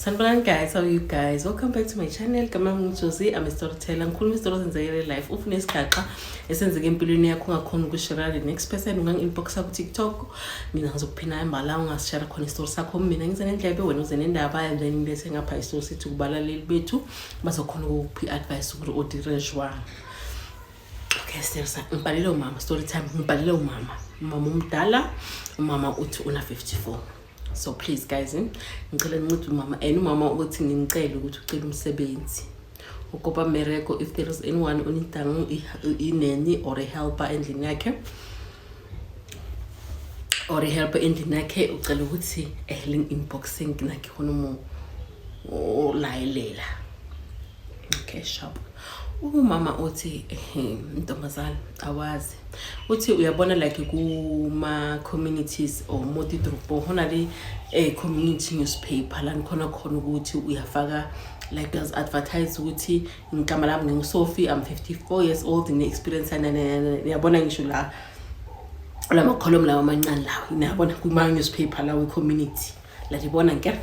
Sanibonani guys, how are you guys? Welcome back to my channel. Kama ngiJosie, I'm a storyteller. Ngikhuluma istory ezenzekele life. Ufuna isigaxa esenzeke empilweni yakho ungakhona ukushare the next person ungangi inbox ku TikTok. Mina ngizokuphina imbala ungashare khona istory sakho. Mina ngize nendlebe wena uze nendaba and then ngibese ngapha istory sithi kubalaleli bethu bazokhona ukuphi advice ukuthi odirejwa. Okay, Stelsa, ngibhalele umama story time. Ngibhalele umama. Umama umdala, umama uthi una 54. so please guys eh, ngicela ngincede umama and umama ukuthi ngimcele ukuthi ucela umsebenzi ukopa mereko if there is anyone onidang ineni or a helper endlini yakhe or a helper endlini yakhe ucela ukuthi ehling inboxing nakhe khona umu olayelela okay shop umama uthi ntombazana awazi uthi uyabona like kuma-communities or moti dropo go na le um community newspaper la nikhona khona ukuthi uyafaka like does advertise ukuthi ngigama lami ngingusophie i'm 54 years old ngine-experience yabona ngisho la la makholom lawo amancane lawo niyabona kuma-newspaper lawo e-community lalibona ngke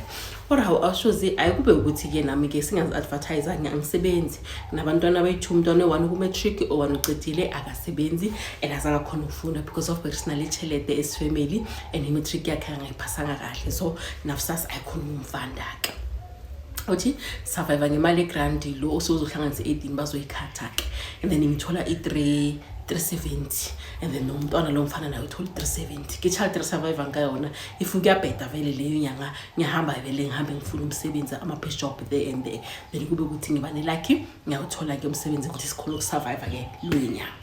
or how ashozi ayikube ukuthi ke nami ke singazi-advertise angisebenzi nabantwana abayi-two umntwana oyi-one ukumatric oyi-one ucedile akasebenzi and azangakhona ukufunda because of personal itshelede esifamily and imatric yakhe angayiphasanga kahle so nafusas ayikhona ukumfanda-ke uthi survive ngemali egrandi lo osozohlanganisa i-eighteen bazoyikhatha-ke and then ngithola i-three 370 and then nomntwana lo mfana naye uthole 370 ke child resurvive angayona if kuyabheda vele leyo nyanga ngiyahamba vele ngihambe ngifuna umsebenzi ama-pay job there and there then kube ukuthi ngiba nelakhi ngiyawuthola-ke umsebenzi ukuthi sikhona ukusurvive-ke leyo nyanga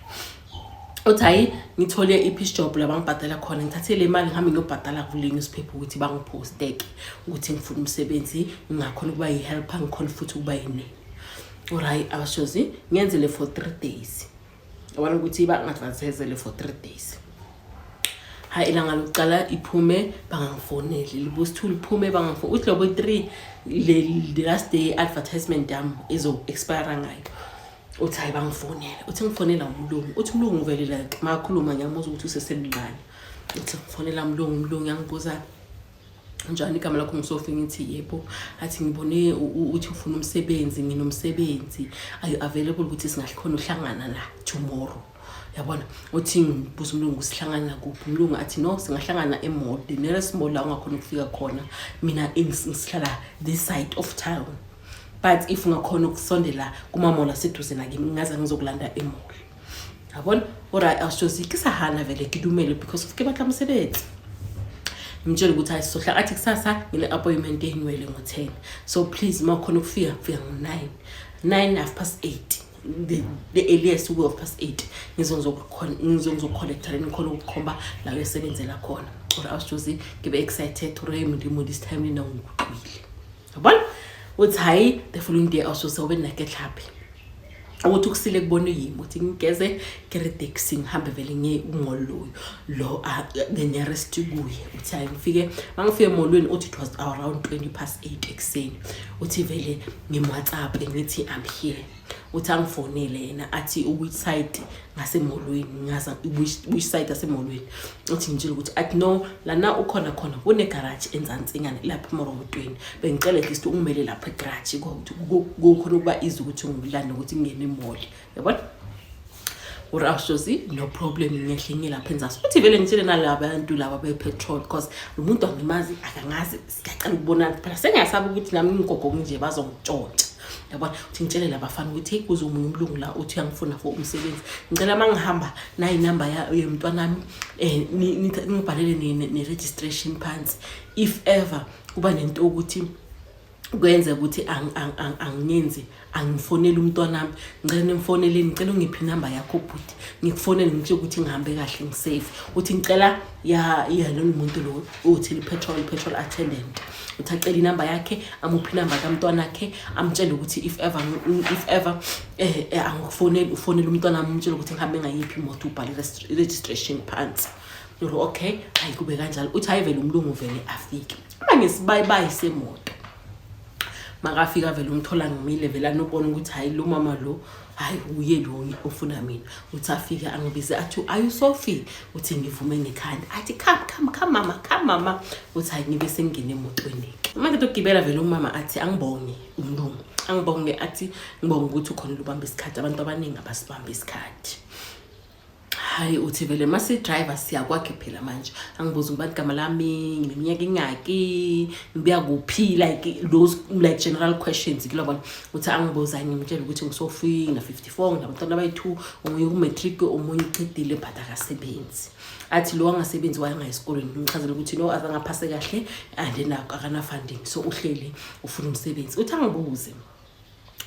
uthi hhayi ngithole i-peace job la bangibhadala khona ngithathe le mali ngihambe ngiyobhadala kule newspaper ukuthi bangiphosteke ukuthi ngifuna umsebenzi ngingakhona ukuba yi-helper ngikhona futhi ukuba yini oray abashozi ngenzele for three days yabona ukuthi bangadvansezele for three days hayi ilanga lokuqala iphume bangangifoneli libusi two liphume bangangifo uthi lobo three the last day advertisement yami izo-expira ngayo uthi hayi bangifonele uthi ngifonela umlungu uthi umlungu uvelela makhuluma ngiyamuza ukuthi usesemncane uthi ngifonela mlungu umlungu yangibuza njani igama lakho ngisofi ngithi yebo athi ngibone uthi ufuna umsebenzi nginomsebenzi are you available ukuthi singakhona uhlangana la tomorrow yabona uthi ngibuza umlungu sihlangana kuphi umlungu athi no singahlangana emall the nearest mall la ungakhona ukufika khona mina ngisihlala this side of town but if ungakhona ukusondela kumamola seduze nakimi ngingaze ngizokulanda emall a bona ora a sjosi ke sa hana vele ke dumele because of ke batla mosebetsi ngimtshele ukuthi hayi sizohlala athi kusasa ngine-appointment enywele ngo-ten so please uma ukhona ukufika kufika ngo-nine nine half past eight the, the earliest uku half past eight ngizongizokukholektha leni ngikhona ukukhomba la uyosebenzela khona or awusijozi ngibe excited raymond imodi isitimely nangikuqile yabona uthi hhayi the following day awusose ube nake hlaphi ukuthi ukusile kubona yimi ukuthi ngigeze ngiridexi ngihambe vele ngiye umoloyo lo the nearest kuye uthi hayi ngifike uma ngifike emolweni uthi it was around twenty past eight ekuseni uthi vele ngimwhatsappe ngithi i'm here uthi angifonele yena athi which side ngasemholweni ngaza which side asemholweni uthi ngitshela ukuthi athi no lana ukhona khona kunegaraji enzansi enyana lapha emorobotweni bengicela at least ungimele lapha egaraji kokuthi kukhona ukuba izi ukuthi ngilande ukuthi ngingene emoli yabona or awushozi no problem ngiyehle ngilapha enzansi futhi vele ngitshele nalaba bantu laba bepetrol because lo muntu angimazi akangazi ngiyacela ukubonana phela sengiyasabi ukuthi nami ngigogo nje bazongitshontsha yabona uthi ngitshele labafana ukuthi heyi kuze omunye umlungu la uthi uyangifuna for umsebenzi ngicela uma ngihamba nayinamba yomntwanami um nibhalele ne-registration phansi if ever kuba nento ukuthi kwenze ukuthi anginenzi angifonele umntwanami ngicela nimfonele ngicela ungiphe inamba yakho bhuti ngikufonele ngitshe ukuthi ngihambe kahle ngisafe uthi ngicela yalona umuntu lo uthi lipetrol petrol attendant uthi acela inamba yakhe amuphe inamba kamntwana akhe amtshele ukuthi if ever if ever eh, eh angikufonele ufonele umntwana amtshele ukuthi ngihambe ngayiphi imoto ubhale registration phansi okay ayi kube kanjalo uthi hayi vele umlungu vele afike uma ngesibayibayi semoto makafika vele umthola ngimile vele anobona ukuthi hayi lo mama lo hayi uye lo ofuna mina uthi afike angibize athi are you sophie uthi ngivume ngekhanda athi come come come mama come mama uthi hayi ngibe sengingene emotweni ke uma ngithi ugibela vele umama athi angibonge umlungu angibonge athi ngibonge ukuthi ukhona lubamba isikhathi abantu abaningi abasibamba isikhathi hayi uthi vele uma sidriver siyakwakhe phela manje angibuzi ngibani igama lami ngineminyaka ingaki ngibuya kuphi like those like general questions kilo bona uthi angibuza ngimtshela ukuthi ngisofika na 54 nginabantwana abayi-two omunye kumatric omunye uqedile but akasebenzi athi lo angasebenzi wayanga esikolweni ngichazela ukuthi no akangaphase kahle and nakho akana-funding so uhleli ufuna umsebenzi uthi angibuze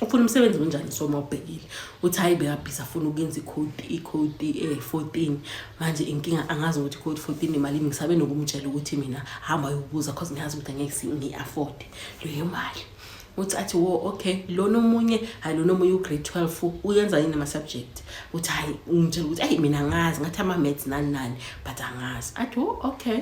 ufuna umsebenzi onjani so uma ubhekile uthi hayi bekabhizi afuna ukuyenza icode e-14 eh, manje inkinga angazi ukuthi icode 14 imalini ngisabe nokumtshela ukuthi mina hamba yokubuza cause ngiyazi ukuthi angeke ngiyi-afford leyo mali uthi athi wo okay lona omunye hayi lona omunye ugrade 12 uyenza yini ama-subject uthi hayi ngitshela ukuthi ayi mina angazi ngathi ama-mats nani nani but angazi athi wo okay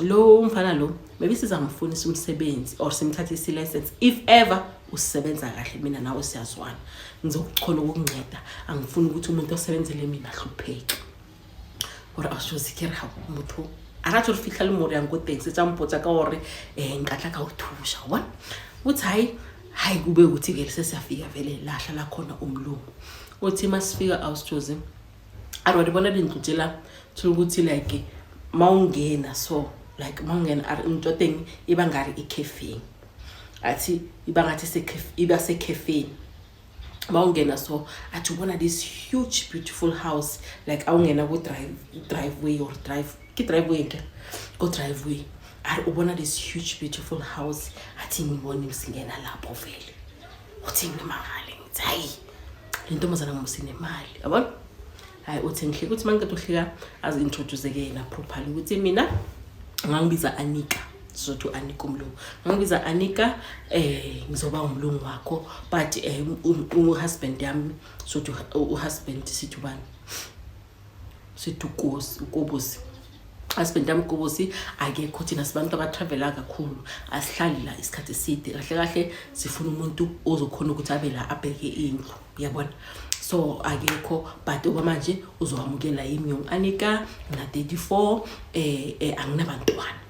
lo mfana lo maybe sizamfunisa umsebenzi or simthathise i-license if ever usebenza kahle mina nawe siyazwana ngizokuchona ukukunceda angifuni ukuthi umuntu osebenzele mina ahlupheke gore a soze ke re ga motho a ra tso re fitlha le mori yang ko teng se tsa mpotsa ka gore um nka tla ka go thusa one uthi hayi hayi kube ukuthi-ke sesiyafika vele lahla lakhona umlungu uthi masifika ausjoze arwadi bona bengitshela thola ukuthi like mawungena so like mawungena into teng iba ngari ikhefini athi iba ngathi iba sekhefini mawungena so athi ubona this huge beautiful house like awungena ku-driveway or drive ki-driveway nto ko-driveway ari ubona this huge beautiful house athi ngiboni singena lapho vele uthi ngimangale ngithi hayi le ntombazana musenemali yabona hayi uthi ngihleke ukuthi uma ngiqeda uhleka azi-introduce-ke yena properly ukuthi mina ngangibiza anika sizothu anika umlungu ngangibiza anika eh ngizoba umlungu wakho but eh um, um, um, uhusband yami sothi uhusband sithi ubani sithi ukosi ukobosi asibhenta mgobosi akekho thina sibantu abatravela kakhulu asihlali la isikhathi eside kahle kahle sifuna umuntu ozokhona ukuthi abe la abheke indlu uyabona so akekho but okwamanje uzokwamukela yimi yong-anika na-34 um eh, eh, anginabantwana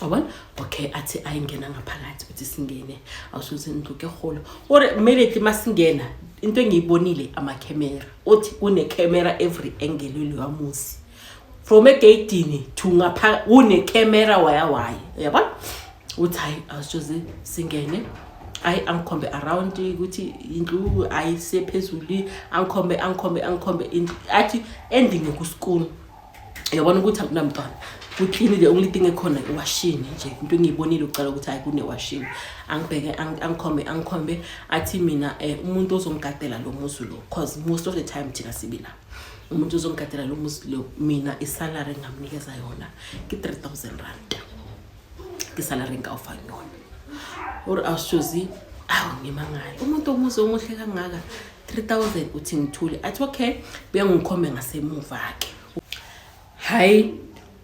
wabona okay athi ayingena ngaphakathi uthi singene awusuze indlu ke holo or immediately masingena into engiyibonile amakhemera uthi kunekhemera every angle lwamusi from egeyidini to ngapha kunekhemera wayawaye uyabona uthi hayi awusuze singene ayi angikhombe around ukuthi indlu ayisephezulu angikhombe angikhombe angikhombe indlu athi endinge kusikuni yabona ukuthi akunamntwana kuklini nje onlything ekhona iwashini nje into engiyibonile ucela ukuthi hayi kunewashini angibheke angikhombe angikhombe athi mina um umuntu ozongigadela lo muzi lo cause most of the time thina sibi la umuntu ozongigadela lo muzi lo mina isalary engamnikeza yona ki-three thousand rand ke salary nka o fang yona ore a sozi awu ngimangale umuntu omuzi omuhle kangaka 3000 uthi ngithule athi okay buye ngikhombe ngasemuva ke hayi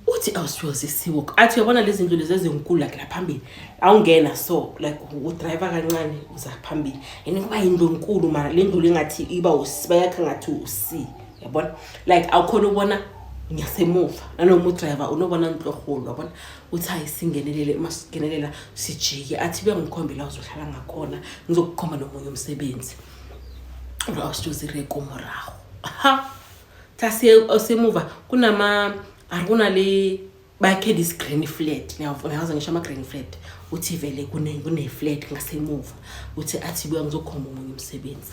uthi awusiyozisiwo athi uyabona lezi ndlu lezi ezinkulu like la phambili awungena so like udriver kancane uza phambili and kuba yindlu enkulu mara le ndlu lengathi iba bayakha ngathi usi yabona like awukhona ubona ngiyasemuva nanoma udriver unobona nhlorhulu wabona uthi hayi singenelele uma singenelela sijike athi bengikhombe la uzohlala ngakhona ngizokukhomba nomunye umsebenzi rawusituzireko morago ha thasemuva kunama arikuna le bakhe this green flat niyawaza ngisho ama-green flat uthi vele kune-flat ngasemuva uthi athi buya ngizokhomba omunye umsebenzi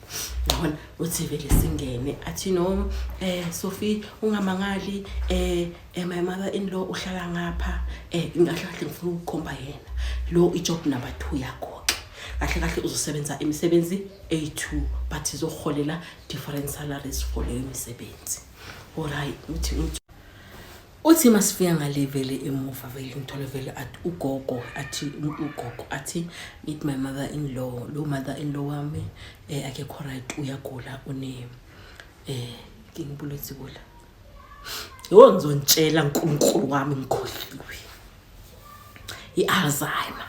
ngibona uthi vele singene athi no eh Sophie ungamangali eh, eh my mother in law uhlala ngapha eh ingahle kahle ngifuna ukukhomba yena lo ijob number 2 yakho kahle kahle uzosebenza imisebenzi A2 but izoholela different salaries for leyo misebenzi alright uthi Uthi masifika ngale vele emuva vele ngithole vele athi ugogo athi ugogo athi meet my mother in law lo mother in law wami eh akekho right uyagula une eh ngingibulezi kula yonzo ntshela uNkulunkulu wami ngikhohliwe i-alzheimer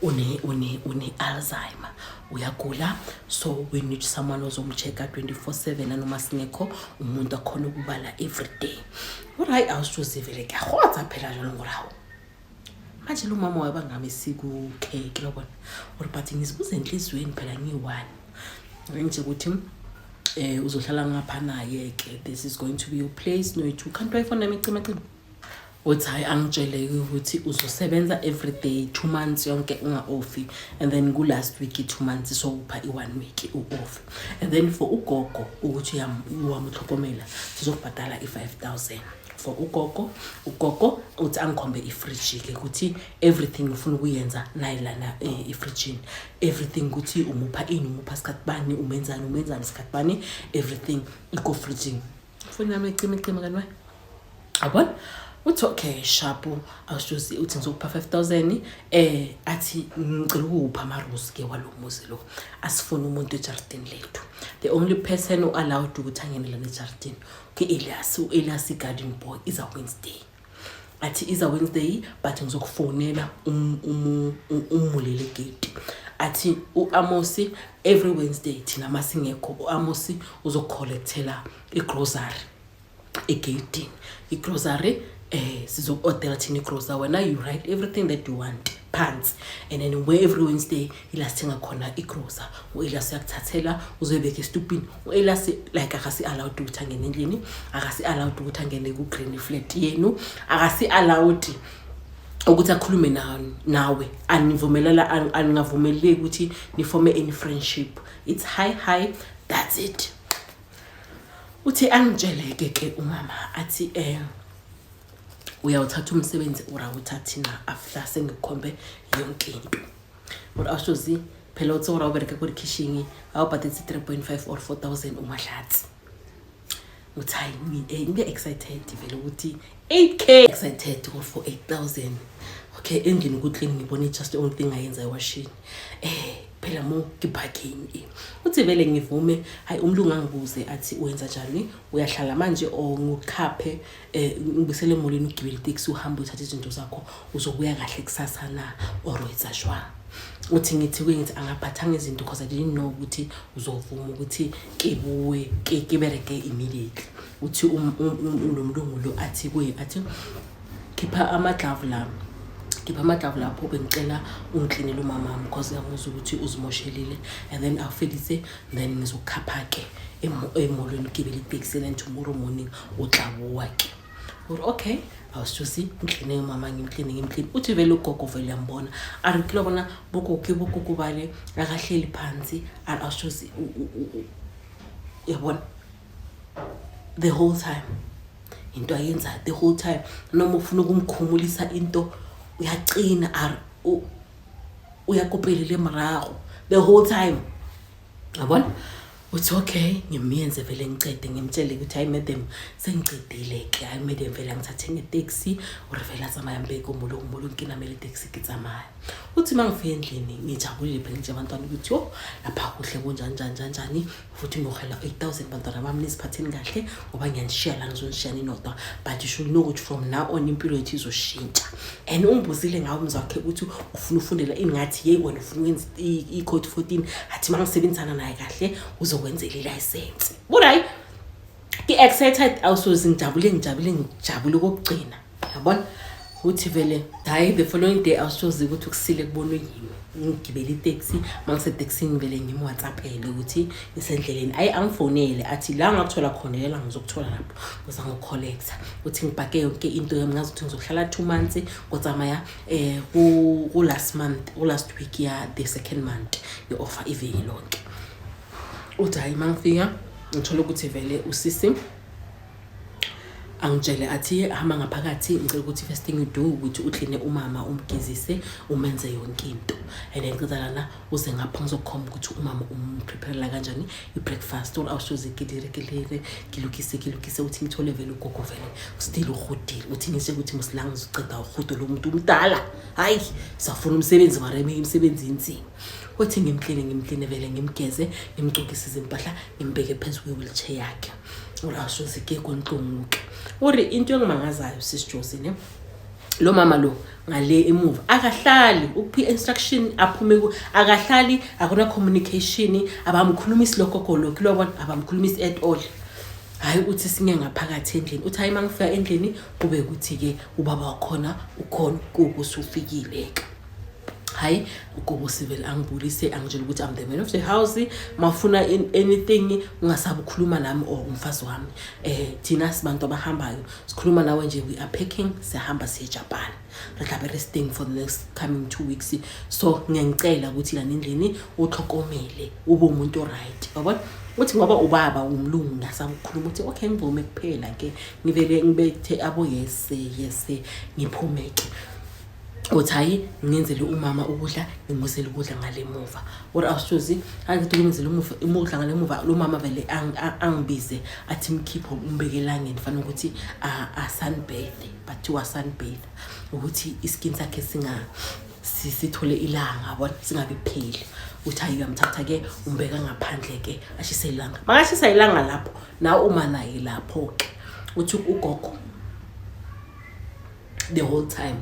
une une une alzheimer uyagula so we need someone ozomcheck-a 24/7 nanoma singekho umuntu akhona ukubala every day orayi awusijozivele kuyarhotha phela jalo ngorawo manje lo mama waye bangami sikukheki lobona or but ngizibuza enhliziyweni phela ngiyi-one nje ukuthi eh uzohlala ngapha naye ke this is going to be your place no two kanti wayifona yami icima cima uthi hhayi angitsheleki ukuthi uzosebenza every day two months yonke unga-offi and then ku-last week i-two months sokupha i-one week u-offi and then for ugogo ukuthi wamutlhokomela sizokubhadala i-five thousand for ugogo ugogo uthi angikhombe ifrijike ukuthi everything ufuna ukuyenza naye lana eh, efrijini everything ukuthi umupha ini umupha sikhathi bani umenzani umenzani sikhathi bani everything ikofrijini foni yami icimicimi kani we abona uthi okay shapo awusuzi uthi ngizokupha 5000 eh athi ngicela ukupha amarules ke walomuzi lo asifuna umuntu ejardini lethu the only person who allowed ukuthi angene lana ejardini ke Elias u Elias garden boy is a Wednesday athi iza wednesday but ngizokufonela um, um, um, umulele gate athi u-amosi every wednesday thina uma singekho u-amosi uzocollectela igrocery egatini igrocery um eh, sizoku-odela thina igrocery wena you write everything that you want pants and then every wednesday ila sithenga khona igrosa uila siyakuthathela uzoyibeka estupini uila like akasi-allowed ukuthi angene endlini akasi-allowed ukuthi angene ku-green flat yenu akasi-allowed ukuthi akhulume nawe anivumelela aningavumeleki ukuthi nifome any friendship it's high high that's it uthi angitsheleke ke umama athi um uyawuthatha umsebenzi urawuthathina after sengikhombe yonke into gore a sotse phela o tse gore a o bereka ko dikhišing a o patetse three point five or four thousand o mahlatse uthi hayi eh, ngibe excited vele ukuthi eight k excited gore for eight thousand okay endlini ukutlini ngibone just only thing ayenza ewashini um eh, phela mo ke bargain e uthi vele ngivume hayi umlungu angibuze athi uwenza njani uyahlala manje or ngikhaphe eh ngibisele emolweni ugibele iteksi uhambe uthatha izinto zakho uzobuya kahle kusasa na or wenza shwa uthi ngithi kwengithi angaphathanga izinto because i didn't know ukuthi uzovuma ukuthi kebuwe kebereke immediately uthi um, um, um, lo mlungu lo athi kuye athi khipha amaglavu lami ngipha amaglavu lapho bengicela ungiklinele umamami because ngiyamuzwa ukuthi uzimoshelile and then awufikise then ngizokukhapha-ke emolweni ugibele iteksi then tomorrow morning uxabuwa ke uri okay awusithusi ngikline umama ngimkline ngimkline uthi vele ugogo vele uyambona arikilo bona bogoke bogogo bale akahleli phansi awusithusi yabona the whole time into ayenzayo the whole time noma ufuna ukumkhumulisa into uyaqina uyakopelela emrago the whole time yabona uthi okay ngimyenze vele ngicede ngimtshele ukuthi hayi madam sengicedile-ke hayi madam vele angithathe ngeteksi or vele atsamaya mbeke umulo umulo nkinamele iteksi ke tsamaya uthi uma ngifika endlini ngijabulile phela nje abantwana ukuthi yo lapha kuhle kunjani njani njani njani futhi ngiyohela eight thousand bantwana bami niziphatheni kahle ngoba ngiyanishiya la ngizonishiya ninodwa but you should know ukuthi from now on impilo yethu izoshintsha and ungibuzile ngawo umzi wakhe ukuthi ufuna ufundela ingathi yeyi wena ufuna ukwenza i-code fourteen athi uma ngisebenzisana naye kahle uzokwenzela ilayisensi bunayi ngi-excited awusoze ngijabule ngijabule ngijabule kokugcina yabona ukuthi vele hhayi the following day awusozi ukuthi ukusile kubona uyimi ngigibele iteksi uma ngiseteksini vele ngimwhatsaphele ukuthi ngisendleleni ayi angifonele athi la ngakuthola khona lela ngizokuthola lapho ngiza ngokholektha ukuthi ngibhake yonke into yami ngazi ukuthi ngizohlala two months ngotsamaya um ku-last month ku-last week ya the second month ngi-offer iveki lonke uthi hhayi uma ngifika ngithole ukuthi vele usisi angitshele athi hamba ngaphakathi ngicela ukuthi first thing you do ukuthi ukline umama umgezise umenze yonke into and enqeda lana uze ngapha ngizokhomba ukuthi umama umprepherela kanjani i-breakfast or awushoze kilire kilire ngilukise ngilukise uthi ngithole vele ugogo vele still urhudile uthi ngishe ukuthi musilanga ngizoceda urhudo lo muntu umdala hhayi safuna umsebenzi mareme imisebenzi inzima uthi ngimkline ngimkline vele ngimgeze ngimcokise izimpahla ngimbeke phezu kwe-wheelchair yakhe uraso zigegwe ntlunguke uri into engimangazayo sis Josie ne lo mama lo ngale emuva akahlali ukuphi instruction aphume ku akahlali akuna communication abamkhulumisi lokho golo kilobona abamkhulumisi at all hayi uthi singe ngaphakathi endlini uthi hayi mangifika endlini kube ukuthi ke ubaba wakhona ukhona kukusufikile ke hayi ugobo sivele angibulise angitshela ukuthi am the man of the house mafuna anything ungasabi ukhuluma nami or umfazi wami eh thina sibantu abahambayo sikhuluma nawe nje we are packing siyahamba siye Japan ngidlabe resting for the next coming two weeks so ngiyangicela ukuthi lana endlini uthlokomele ube umuntu right yabona uthi ngoba ubaba umlungu ngasaba ukukhuluma uthi okay ngivume kuphela ke ngivele ngibethe abo yes yes ngiphume ke uthi hayi ngenzele umama ukudla ngimuzele ukudla ngale muva or awusuzi angithi ngimenzele umuva umudla ngale muva lo mama vele angibize athi mkhiphe umbeke elangeni fanele ukuthi asunbathe bathiwa sunbathe ukuthi iskin sakhe singa sithole ilanga yabona singabi kupheli uthi hayi uyamthatha ke umbeka ngaphandle ke ashise ilanga makashisa ilanga lapho nawe uma naye lapho-ke uthi ugogo the whole time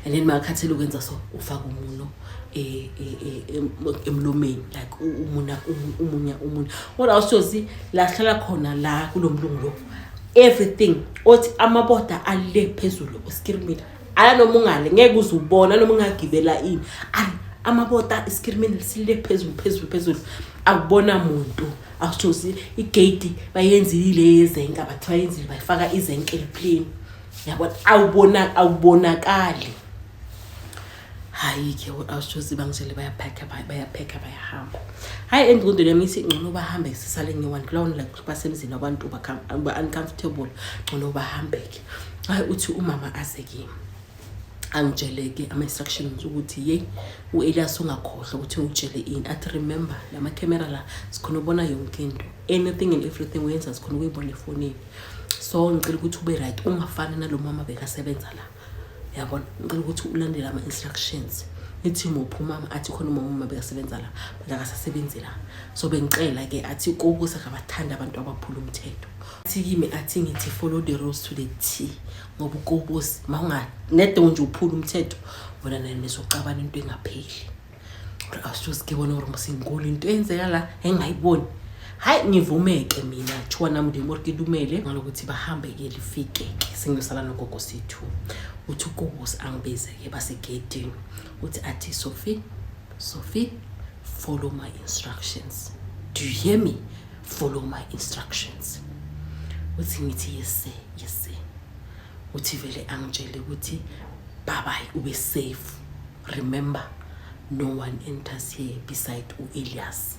and then makhathele ukwenza so ufaka umuno e, e, e, emlomeni like umuna umunya umuntu kodwa usozi la hlala khona la kulo mlungu lo everything othi amaboda ale phezulu uskirimini ala noma ungale ngeke uze ubona noma ungagibela ini amaboda iskirimini sile phezulu phezulu phezulu akubona muntu awusozi igate bayenzile yezenka bathiwa yenzile bayifaka izenke elipleni yabona awubona awubonakali hayi-ke awushozi bangitshele bayaphekha bayaphekha bayahamba hhayi engqondweni yami ithi ngcono bahambe sisale nge-one kulawona like ukuthi basemzini abantu ba-uncomfortable ngcono bahambe-ke hhayi uthi umama aze kimi angitsheleke ama-instructions ukuthi yeyi u-elias ungakhohlwa ukuthi ngitshele ini athi remember la makhemera la sikhona ubona yonke into anything and everything uyenza sikhona ukuyibona efonini so ngicela ukuthi ube right ungafani nalo mama bekasebenza la yabona ngicela ukuthi ulandele ama-instructions ithi muphi umama athi khona umama uma bekasebenza la but akasasebenzi la so bengicela-ke athi kokusa ngabathanda abantu abaphula umthetho athi kimi athi ngithi follow the rules to the t ngoba ukobosi ma unganede nje uphula umthetho wena naye nizoxabana into engapheli kodwa awusuthi ke bona urumba senkulu into eyenzeka la engayiboni hayi ngivumeke mina thiwa nami ndimorkidumele ngalokuthi bahambe-ke lifike-ke sengisala nogogo sethu uthi ugogosi angibizeke basegedini uthi athi sophie sophie follow my instructions do you hear me follow my instructions uthi ngithi yese yese uthi vele angitshele ukuthi babayi ube safe remember no one enters here beside u-elias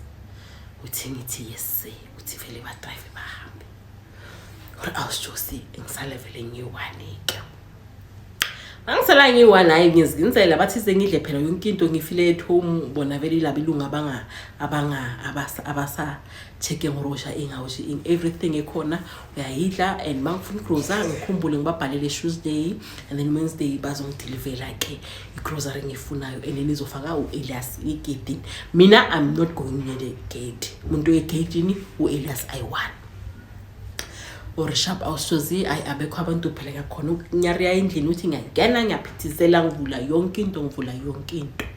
uthi ngithi yes uthi vele badrive bahambe or else josi ngisale vele ngiyi-one-ke mangisala ngiyi-one hhayi ngizikinisela bathi sengidle phela yonke into ngifile at home bona vele ilaba ilungu abanga abanga abasa-check-e ngorosha ingawushi in everything ekhona ngiyayidla and uma ngifuna igrosa ngikhumbule ngibabhalele tuesday and then wednesday bazongidilivela ke igrocery engiyifunayo and then izofaka u-elias egedini mina i'm not going near the gate umuntu egedini u-elias ayi-one or sharp awusozi ayi abekho abantu phela kakhona ngiyareya endlini ukuthi ngiyangena ngiyaphithizela ngivula yonke into ngivula yonke into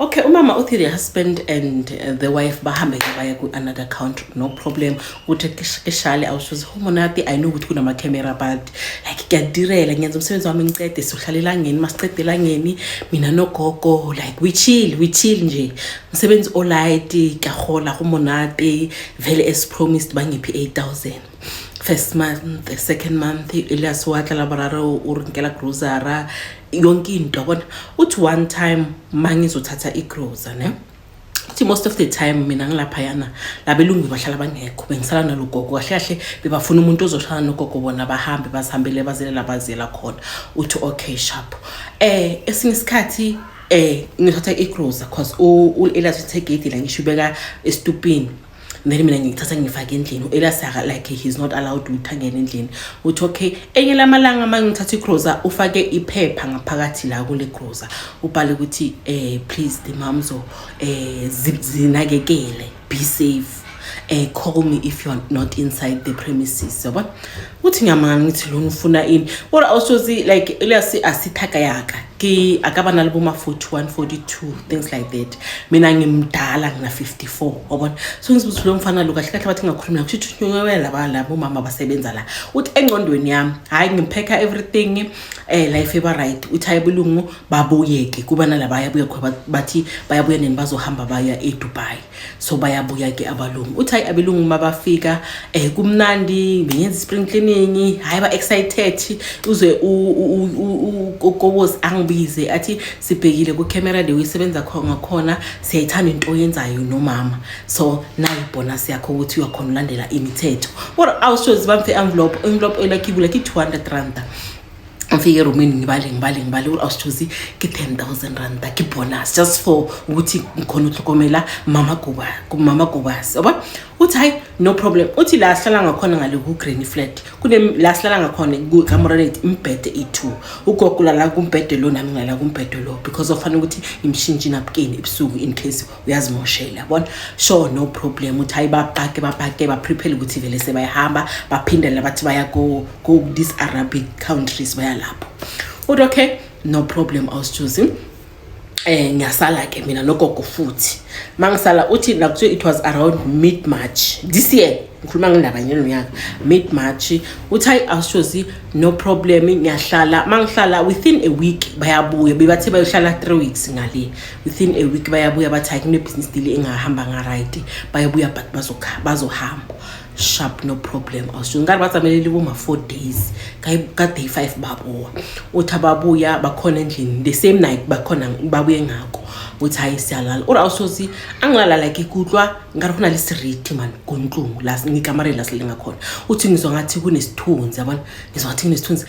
Okay, umama uthi the husband and uh, the wife bahambe ke baya ku-another country no problem ukuthi kishale awushuze homonati i know ukuthi kunamakhemera but like kuyadirela ngenza umsebenzi wami ngicede siyohlala elangeni uma sicede elangeni mina nogogo like we chill we chill nje umsebenzi olight kyahola homonati vele esipromised bangiphi 8000 first month second month elias watla laboraro o re nkela grocery yonke into yabona uthi one time ma ngizothatha igrocer ne uthi most of the time mina ngilaphayana labelungu bahlala bangekho bengisala nalogogo kahle kahle bebafuna umuntu ozohlala nogogo bona bahambe bazihambele bazele labazela khona uthi okay sharp eh esinye isikhathi eh ngithatha igrocer cause u elias uthe gate la ngisho ubeka estupini then mina ngikuthatha ngifake endlini u-elias like he's not allowed to uthangena endlini uthi okay enye lamalanga uma ngithatha igroza ufake iphepha ngaphakathi la kule groza ubhale ukuthi um please the mamzo um eh, zinakekele be safe um call me if you're not inside the premises yabona uthi ngamanga ngithi lona ufuna ini kodwa also zi like ilasi asithaka yaka ke akaba na le bo ma 41 42 things like that mina ngimdala ngina 54 wabona so ngizibuthi lo mfana lo kahle kahle bathi ngakhuluma nakusho ukuthi unywe laba labo mama basebenza la uthi engqondweni yami hayi ngimpheka everything eh life eba right uthi ayibulungu babuyeke kuba nalabaya buya khona bathi bayabuya nini bazohamba baya eDubai so bayabuya ke abalungu uthi hayi abelungu uma bafika um kumnandi bengenza i-spring cleaning hhayi ba-excited uze ukobozi angibize athi sibhekile kwicamera le uyisebenza ngakhona siyayithanda into oyenzayo nomama so nayibhonasi yakho ukuthi uyakhona ulandela imithetho kodwa awushozi bamfe envelope envelope elakhibula ki-two hundred randa ngifike erumini ngibale ngibale ngibale u-auschosi ki-ten thousand rand ki-bonus just for ukuthi ngikhona utlogomela mama gubasi oba uthi hhayi no problem uthi la sihlala ngakhona ngale ku-green flat la sihlala ngakhona kamoranet imbhede i-two ugogo ulala kumbhede lo nami ngilala kumbhede lo because ofana ukuthi ngimshintshe inapukeni ebusuku in case uyazimoshela yabona sure no problem uthi hhayi bapake bapake baphriphele ukuthi vele sebayahamba baphindela bathi baya go these arabic countries bayalapho uthi okay no problem awusjuzi um eh, ngiyasala ke mina nogogo futhi ma ngisala uthi nakuthiwa it was around mid march this year ngikhuluma ngendaba nje nonyaka mid march uthi hayi awushozi no problem ngiyahlala uma ngihlala within a week bayabuya bebathe bayohlala three weeks ngale within a week bayabuya bathi hayi kunebhizinisi dile engahamba nga-right bayabuya but bazohamba sharp no problem awusuke ngathi batsamelele kuma 4 days ka day 5 babuwa uthi ababuya bakhona endlini the same night bakhona babuye ngako uthi hayi siyalala or awusozi angilalala ke kutlwa ngathi khona le siriti man kuntlungu la ngikamareni la silinga khona uthi ngizwa ngathi kunesithunzi yabona ngizwa ngathi kunesithunzi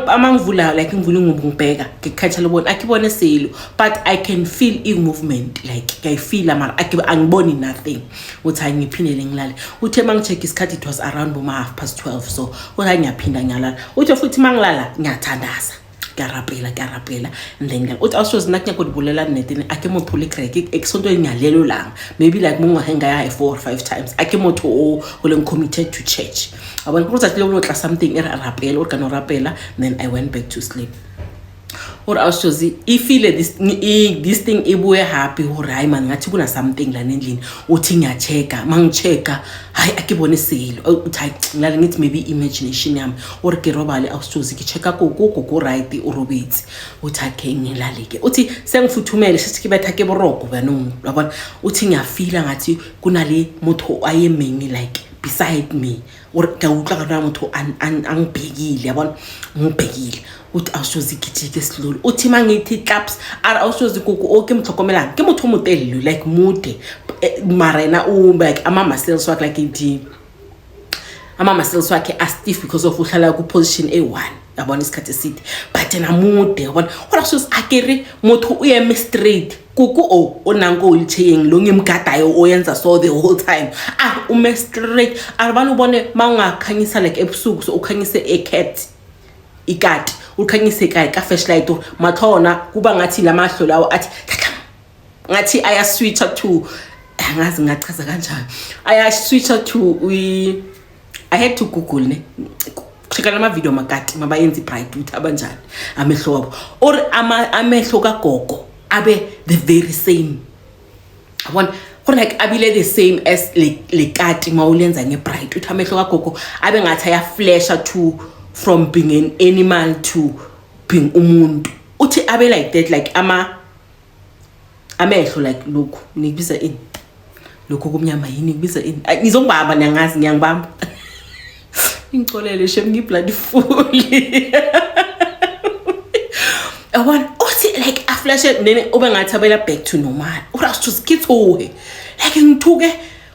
amangivula like ngivula ingubo ngibheka ngikhatha lobona akibone silo but i can feel i movement like ngiyayifeel mara angiboni nothing uthi hayi ngiphindele ngilale uthe uma ngi-check isikhathi it was around boma half past 12 so uthi hayi ngiyaphinda ngiyalala uthe futhi uma ngilala ngiyathandaza kyarapela kyarapela and then uthi awushozi oh, nakunya kulibulela netini ake mothole crack ekusontweni ngiyalelo langa maybe like mungahengaya e four or five times ake motho o kule committed to church abona ukuthi athi lokulotla something erapela or kana rapela then i went back to sleep uri a swi cozi i file this, this thing i vuye happy uri hayi mani ngathi kuna something lana endlini uthi ngiyacheka ma ngicheka hayi a ke bone selo uthi hayi ngale ngithi maybe imagination yami uri ke robale a swi cozi ke cheka kogogo ko right u robetse uthi ake ngilaleke uthi sengifuthumele shithi ke betha ke borogo banong yabona uthi ngiyafila ngathi kunale motho ayemenge like beside me o re ka utlwa ka nna motho a ngbhekile yabona ngbhekile o te a o soze ke tee ke selolo o themang e te tlaps a re a o soze koko o ke mo tlhokomelang ke motho o motelelo like mode eh, mara ena o like ama masales wake like di ama masales wake a stiff because of uhlala ku position a one yabona isikhathi eside but ena mode yabona gona go soze a kere motho o eme straight kuku o oh, onanko wheelchair lo ngimgadayo oyenza so the whole time ah ume straight alubani ubone ma ungakhanyisa like ebusuku so ukhanyise ecat ikati ukhanyise kae ka flashlight or mathona kuba ngathi la mahlo lawo athi ngathi aya switcha to ngazi ngachaza kanjani aya switcha to i had to google ne checkana amavidiyo makati mabayenza i-bright ukuthi abanjani amehlo wabo or amehlo kagogo abe the very same yabona khona like abile the same as le kati ma ulenza nge-bright ukuthi amehlo kagogo abe ngathi ayaflasha to from being an animal to being umuntu uthi abe like that like ama amehlo like lokhu nikubiza ini lokhu kumnyama yini kubiza ini ngizongibamba niyangazi ngiyangibamba ingicolele shem ngiblood full yabona uthi like aflashe nene ube ngathi abela back to normal ura sithuze ngithuke like ngithuke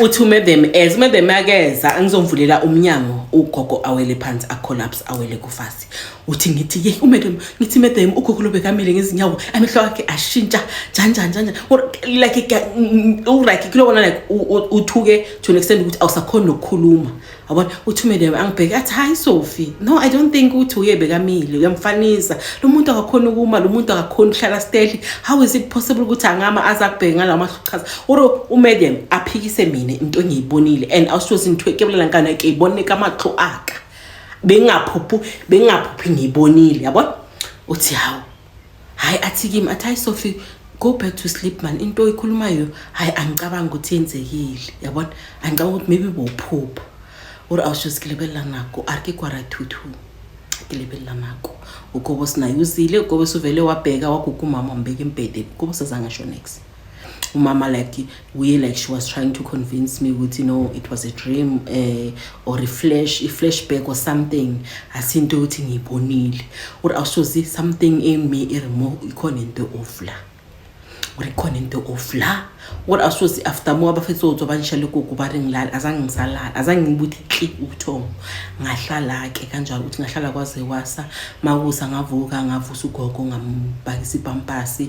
uthi ume them as ume them akeza ngizomvulela umnyango ugogo awele phansi acollapse awele kufasi uthi ngithi yeyi ume them ngithi ume them ugogo lobe kamile ngezinyawo amehlo akhe ashintsha janjani janjani like urike kulobona like uthuke to an extent ukuthi awusakhoni nokukhuluma yabona uthumele angibheke athi hayi sofi no i don't think ukuthi uye bekamile uyamfanisa lo muntu akakhoni ukuma lo muntu akakhoni ukuhlala steli how is it possible ukuthi angama aze akubheke ngalawo mahluchaza or umedium aphikise mina into engiyibonile and awushozi into ekebulala nkana ke iboneka amaxo aka bengaphuphu bengaphuphi ngiyibonile yabona uthi hawu hayi athi kimi athi hayi sofi go back to sleep man into oyikhulumayo hayi angicabangi ukuthi yenzekile yabona angicabanga ukuthi maybe bowuphupha or awushozi kilebelela nako arke kwarathuthu kilebelela nako ugobo sinayuzile ugobo suvele wabheka waguga umama wambeka embhedeni ugobo sazangasho next umama like uye like she was trying to convince me ukuthi no it was a dream eh, or a flash a flashback or something asinto ukuthi ngiyibonile or awusozi something in me iremo ikhona into off la or ikhona into off la or awusozi after mo abafethu ozo banishele kuku bari ngilala azange ngisalala azange ngibuthi kli uthongo ngahlala ke kanjalo ukuthi ngahlala kwaze wasa makusa ngavuka ngavusa ugogo ngambakisa ipampasi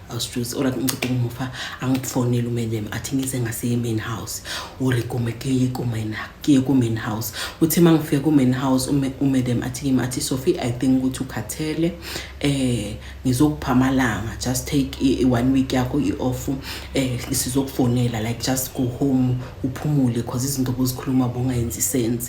awusijuzi orat ngiceda ukumufa angifonele umelem athi ngize ngasiye e-main house uri kume kiye kumain kiye ku-main house kuthi uma ngifike ku-main house umelem athi kimi athi sophie i think ukuthi ukhathele eh ngizokupha amalanga just take i-one week yakho i-off eh sizokufonela like just go home uphumule because izinto obuzikhuluma bungayenzi sense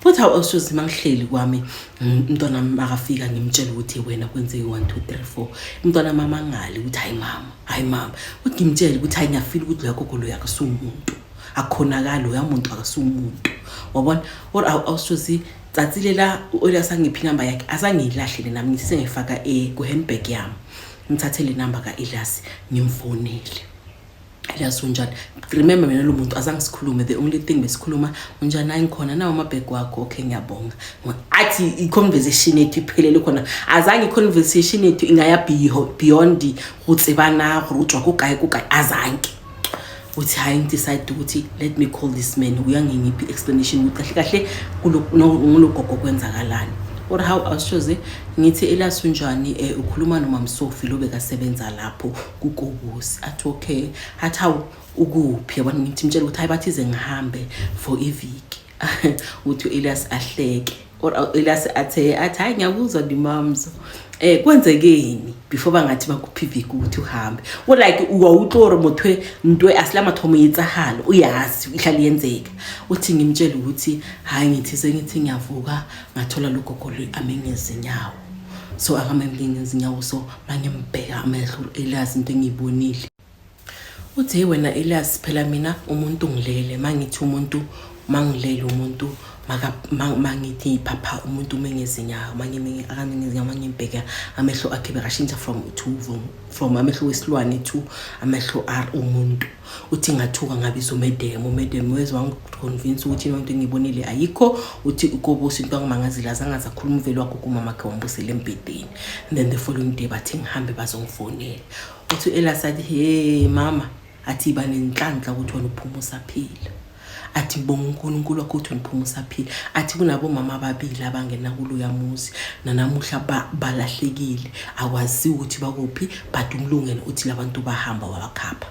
Futhi hawu awusuzi uma ngihleli kwami umntwana wami akafika ngimtshela ukuthi wena kwenzeke one two three four umntwana wami amangali ukuthi hayi mama hayi mama ukuthi ngimtshele ukuthi hayi ngiyafila ukuthi loya gogo loya akasuwumuntu akukhonakali loya muntu akasuwumuntu wabona or awusuzi tsatsile la u-oli asangiphi inamba yakhe asangiyilahlele nami ngithi sengifaka e, ku-handbag yami ngithathe le namba ka-elias ngimfonele Elias unjani remember mina lo muntu azange sikhulume the only thing besikhuluma unjani hayi ngikhona nawo amabhegi wakho okay ngiyabonga athi i-conversation yethu iphelele khona azange i-conversation yethu ingaya beyond go tsebana gore o tswa ko kae ko kae azange uthi hayi ngidecide ukuthi let me call this man uyangengiphi i-explanation ukuthi kahle kahle ngulogogo kwenzakalani or how else shoze ngithi elasunjani um eh, ukhuluma nomamsofi lo bekasebenza lapho kugobosi athi okay athi hawu ukuphi yabona ngithi mtshela ukuthi hayi bathi ize ngihambe for iviki uthi u-elias ahleke or u-elias athe athi hhayi ngiyakuzwa ndimamzo eh kwenzekeni before bangathi bakuphi viki ukuthi uhambe wo like wawutloro mothwe ntwe asila mathomo yetsahalo uyazi ihlala yenzeka uthi ngimtshela ukuthi hayi ngithi sengithi ngiyavuka ngathola logogo lwe amenyezinyawo so akamemke ngezinyawo so mangimbheka amehlo eliyazi into engiyibonile uthi heyi wena eliyazi phela mina umuntu ngilele mangithi umuntu mangilele umuntu mangithi ngiphapha umuntu ume ngezinyawo akame ngezinyawo mangimbheka amehlo akhe bekashintsha from to from amehlo wesilwane to amehlo ar umuntu uthi ngathuka ngabiza umedem umedem wezwa wangiconvince ukuthi ino nto engiyibonile ayikho uthi ukobusa into angimangazile azangaze akhuluma uvele waguga umamakhe wambusela embhedeni and then the following day bathi ngihambe bazongifonela uthi u-elas athi he mama athi iba nenhlanhla ukuthi wena uphuma usaphila athi ngibonga unkulunkulu wakho ukuthi undiphuma usaphile athi kunabomama ababili abangena kuluya muzi nanamuhla balahlekile akwaziwa ukuthi bakuphi but umlungelo uthi labantu bahamba wabakhapha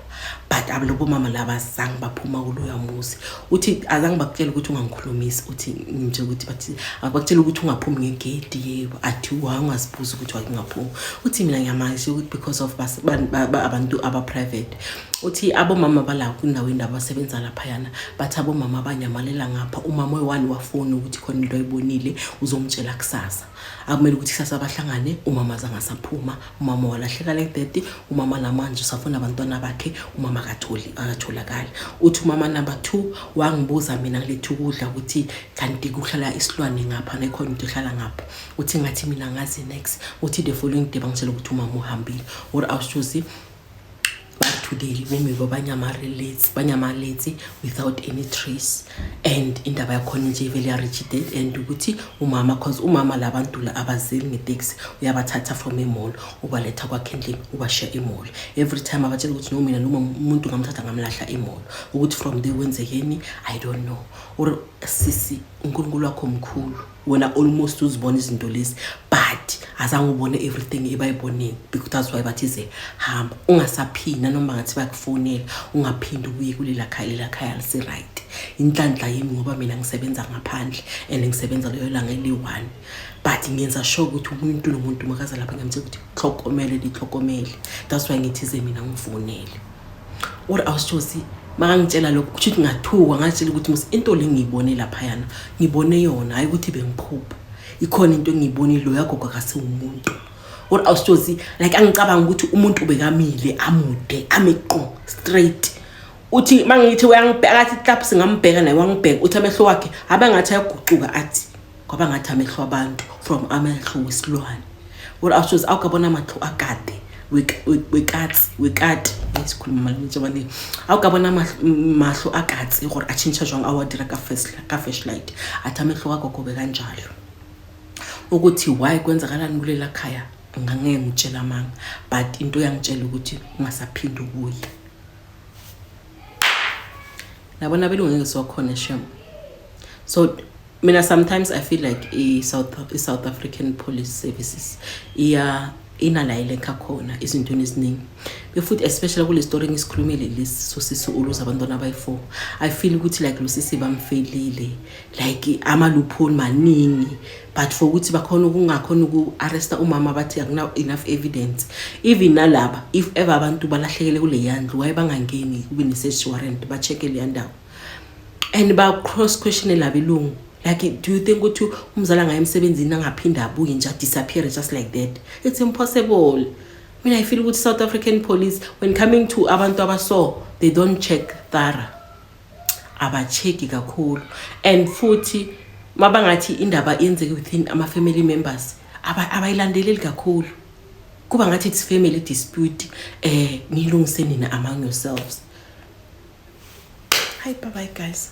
but alobo mama laba azange baphuma kuloya muzi uthi azange bakutshela ukuthi ungangikhulumisi uthi nje ukuthi bathi akubakutshela ukuthi ungaphumi ngegedi yebo athi wangazibuza ukuthi wakungaphumi uthi mina ngiyamanje ukuthi because of abantu abaprivate uthi abomama bala kundawo indawo basebenza laphayana bathi abomama abanyamalela ngapha umama oyi-one wafoni ukuthi khona into ayibonile uzomtshela kusasa akumele ukuthi kusasa bahlangane umama zangasaphuma umama walahleka like that umama namanje usafuna abantwana bakhe umama akatholi akatholakali uthi umama number two wangibuza mina ngiletha ukudla ukuthi kanti kuhlala isilwane ngapha nekhona into ehlala ngapha uthi ngathi mina ngazi next uthi the following day bangitshela ukuthi umama uhambile or awushuzi bathukeli bumi kwabanye ama-relates banye ama-late without any trace and indaba yakhona nje vele yarigided and ukuthi umama cause umama la bantu la abazeli ngeteksi uyabathatha from emall ubaletha kwakhe endlini ubashiya emall every time abatshela ukuthi nomina noma umuntu ngamthatha ngamlahla emall ukuthi from there wenzekeni i don't know or sisi unkulunkulu wakho mkhulu wena almost uzibona izinto lezi but azange ubone everything ebayibonile because that's why bathi ze hamba ungasaphindi nanoma ngathi bakufonela ungaphindi ubuye kulela khaya lela khaya lisi-right inhlanhla yimi ngoba mina ngisebenza ngaphandle and ngisebenza leyo langa eli-one but ngenza sure ukuthi umuntu nomuntu makaza lapha ngiyamtshela ukuthi tlhokomele litlhokomele that's why ngithi ze mina ngifonele or awushosi makangitshela lokho kusho ukuthi ngathukwa ngatshela ukuthi mos into le ngiyibone laphayana ngibone yona hhayi ukuthi bengiphupha ikhona into engiyibonile lo yagogo akasiwumuntu or awushosi like angicabanga ukuthi umuntu bekamile amude ameqo straight uthi mangithi uyangibheka athi club singambheka naye wangibheka uthi amehlo wakhe abe ngathi ayagucuka athi kwaba ngathi amehlo abantu from amehlo wesilwane or awushozi awukabona amahlo akade wekatsi wekati esikhuluma njengoba awukabona mahlo akatsi gore a tshintsha jwang a wa dira ka flashlight athi amehlo kagogo bekanjalo ukuthi why kwenzakalani kulela khaya ngangeke ngitshela amanga but into yangitshela ukuthi ungasaphinde ubuye nabona belungu ngeke siwakhona shem so mina sometimes i feel like i-south i-south african police services iya inalayilenka khona izintweni eziningi befuthi especially kule story ngisikhulumile lesi sosisi uluza abantwana abayi-four i feel ukuthi like lo sisi bamfelile like ama-loophole maningi but for ukuthi bakhona ukungakhona uku-arresta umama bathi akunawo enough evidence even nalaba if ever abantu balahlekele kule yandlu waye bangangeni kube ne-search warrant ba-check-e leya ndawo and ba-cross questione laba ilungu like do you think ukuthi umzala ngaye emsebenzini angaphinde abuye nje adisappeare just like that it's impossible mina i feel ukuthi south african police when coming to abantu abaso they don't check thara abacheki kakhulu and futhi mabangathi indaba yenzeke within ama family members abayilandeleli kakhulu kuba ngathi it's family dispute eh nilungise nina among yourselves hi bye bye guys